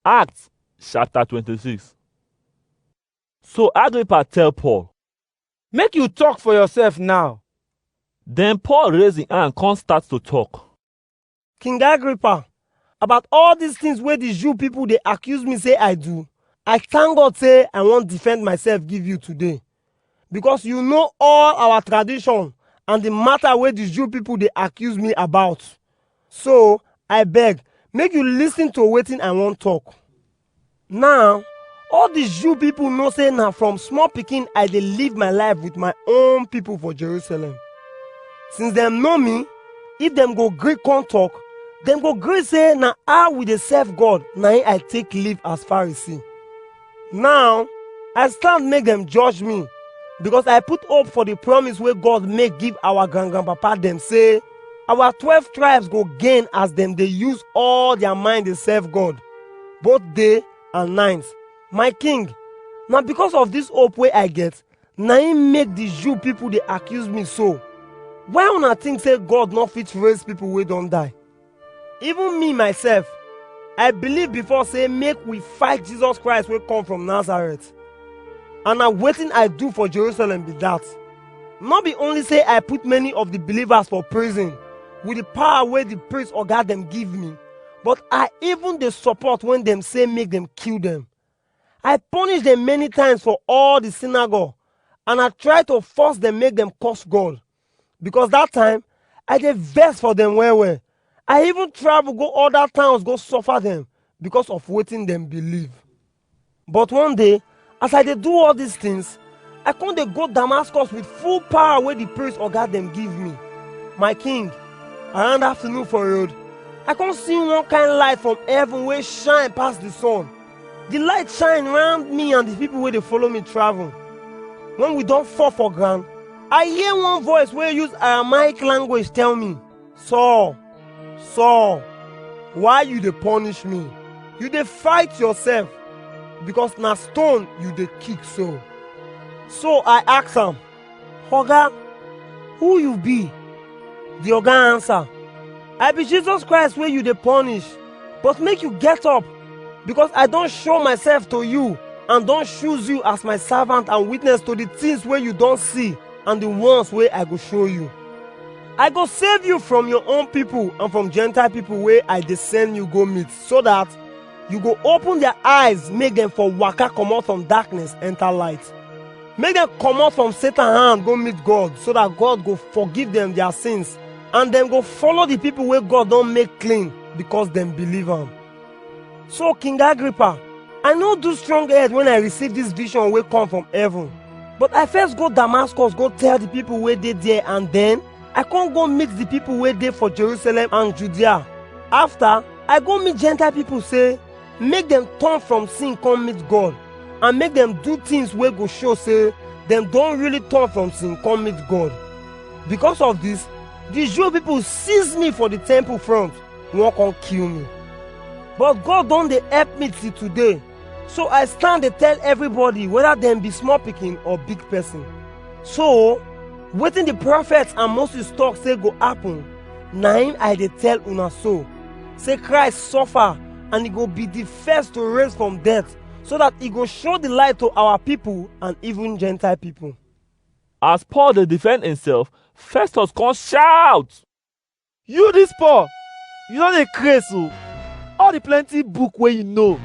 Acts chapter 26. So Agrippa tell Paul, Make you talk for yourself now. Then Paul raise him hand come start to talk. King Agrippa, about all these things wey the Jew people dey accuse me say I do, I thank God say I wan defend myself give you today. because you know all our tradition and the matter wey the Jew people dey accuse me about. So, I beg, make you listen to wetin I wan talk. Now, all the Jew people know say na from small pikin I dey live my life with my own people for Jerusalem. Since dem know me, if dem go gree come talk, dem go gree say na how we dey serve God na im I take live as Pharisee. Now, I stand make dem judge me because I put hope for the promise wey God make give our grand grandpapa dem say our twelve tribes go gain as dem dey use all their mind dey serve God both day and night. My king, na because of this hope wey I get na im make the Jew people dey accuse me so. Why una think say God no fit raise people wey don die? Even me myself, I believe before say make we fight Jesus Christ wey come from Nazareth. And na wetin I do for Jerusalem be that. No be only say I put many of the believers for prison with the power wey the priest oga dem give me, but I even dey support when dem say make dem kill dem. I punish dem many times for all the synagogue and I try to force dem make dem curse God. because that time I dey vex for them well well. I even travel go other towns go suffer them because of wetin them believe. But one day, as I dey do all these things, I come dey go Damascus with full power wey the priest oga dem give me. My king, around afternoon for road, I come see one kind light from heaven wey shine pass the sun. The light shine round me and the people wey dey follow me travel. When we don fall for ground, I hear one voice wey use Aramaic language tell me, Saul, Saul, why you dey punish me? You dey fight yourself because na stone you dey kick so. So I ask am, Oga, who you be? The Oga answer, I be Jesus Christ wey you dey punish, but make you get up, because I don show myself to you and don choose you as my servant and witness to the things wey you don see and the ones wey I go show you. I go save you from your own people and from Gentile people wey I dey send you go meet, so that you go open their eyes make dem for waka comot from darkness enter light. Make dem comot from Satan hand go meet God so that God go forgive them their sins and dem go follow the people wey God don make clean because dem believe am. So King Agrippa, I no do strong head when I receive this vision wey come from heaven. But I first go Damascus go tell the people wey dey there and then I come go meet the people wey dey for Jerusalem and Judea. After, I go meet Gentile people say make dem turn from sin come meet God and make dem do things wey go show say dem don really turn from sin come meet God. Because of this, the Jew people seize me for the temple front, wan come kill me. But God don dey help me till today, so I stand dey tell everybody whether dem be small pikin or big person. So, wetin the prophets and Moses talk say go happen, na im I dey tell una so, say Christ suffer and e go be the first to raise from death so that e go show the light to our people and even Gentile people. As Paul dey defend himself, Festus come shout. You this Paul, you don dey craze o. All the plenty book wey you know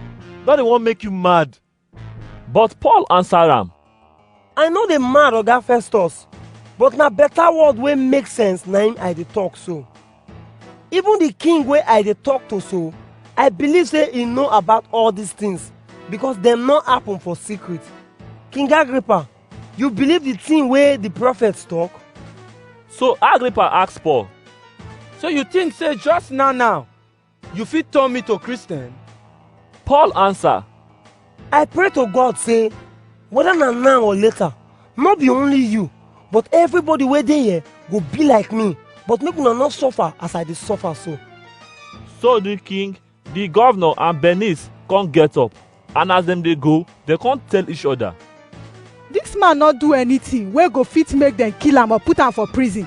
don dey wan make you mad. But Paul answer am, I no dey mad, Oga Festus, but na better word wey make sense na im I dey talk so. Even the king wey I dey talk to so, I believe say he know about all these things because dem no happen for secret. King Agrippa, you believe the thing wey the prophets talk? So Agrippa ask Paul, So you think say just now now You fit turn me to Christian? Paul answer, I pray to God say, whether na now or later, no be only you, but everybody wey dey here go be like me, but make una no suffer as I dey suffer so. So the king, the governor and Bernice come get up, and as dem dey go, dem come tell each other. Dis man no do anything wey go fit make dem kill am or put am for prison.